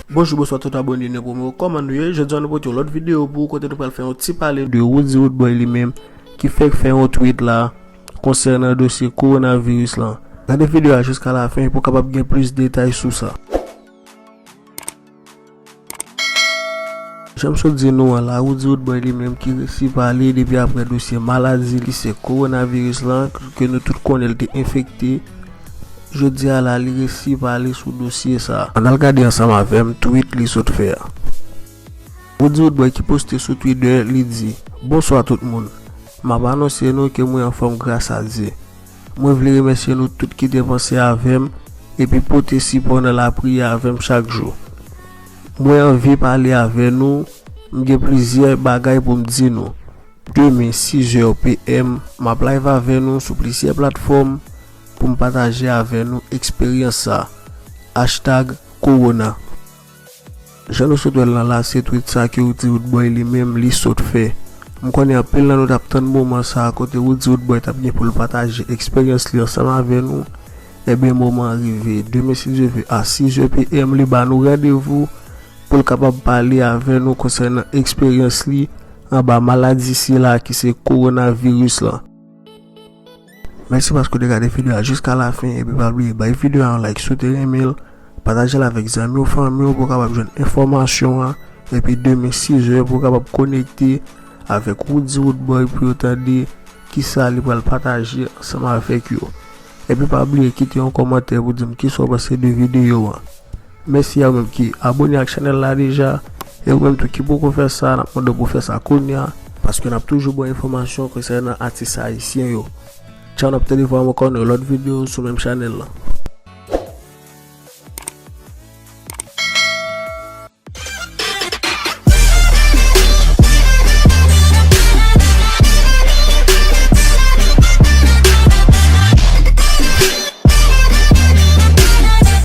Bonjou bonswa tout abone nou pou mwen kòman nou ye jodi an nou pote yon lòt videyo pou kote nou pral fè yon ti pale de Roody Roodboy li menm ki fèk fè yon tweet la konsènan dosye coronavirus lan gade videyo a jiska la fen pou kapab gen plis detay sou sa. Janm sot di nou an la Roody Roodboy li menm ki resi pale depi aprè dosye maladi li se Coronavirus lan ke nou tout konnen li te enfekte jodi a la li resi pale sou dosye sa. Ann al gade ansanm avèm tweet li sot fè a. Roody Roodboy ki poste sou Twitter li di, Bonswa tout moun. Map anonse nou ke mwen anfòm gras a Dye. Mwen vle remèsye nou tout ki te panse avè m epi pote sipò nan lapriyè avè m chak jou. Mwen anvi pale avè nou, m gen plizyè bagay pou m di nou. Demen 6 zè PM, m ap live avè nou sou plizyè platfòm pou m pataje avè nou eksperyans sa. Hashtag Corona. Jan nou sot wèl nan lase twit sa ke Roody Roodboy li menm li sot fè. M konnen anpil nan nou tap tann moman sa kote Roody Roodboy tap gen poul pataje eksperyans li ansanm avè nou, enben moman an rive. Demen si Dye ve a 6 zè PM li ba nou randevou poul kapab pale avè nou konsènan eksperyans li anba maladi sila ki se Coronavirus lan. Mèsi paske ou te gade video a jiska la fin epi pa bliye bay video a yon like si w te renmen l, pataje l avèk zanmi w fanmi w pou w kapab jwenn enfòmasyon an epi demen 6 è pou w kapab konekte avèk Roody Roodboy pou yo tande kisa li pral pataje ansanm avèk yo epi pa bliye kite yon kòmantè pou di m kisa w panse de video an. Mèsi a moun ki abone ak chanèl la deja e ou menm tou ki poko fè sa nap mande w pou fè sa kounya paske nap toujou ba w enfòmasyon konsènan atis ayisyen yo Tchaw nap tande vwa mwen kò nan yon lòt video sou menm chanèl lan.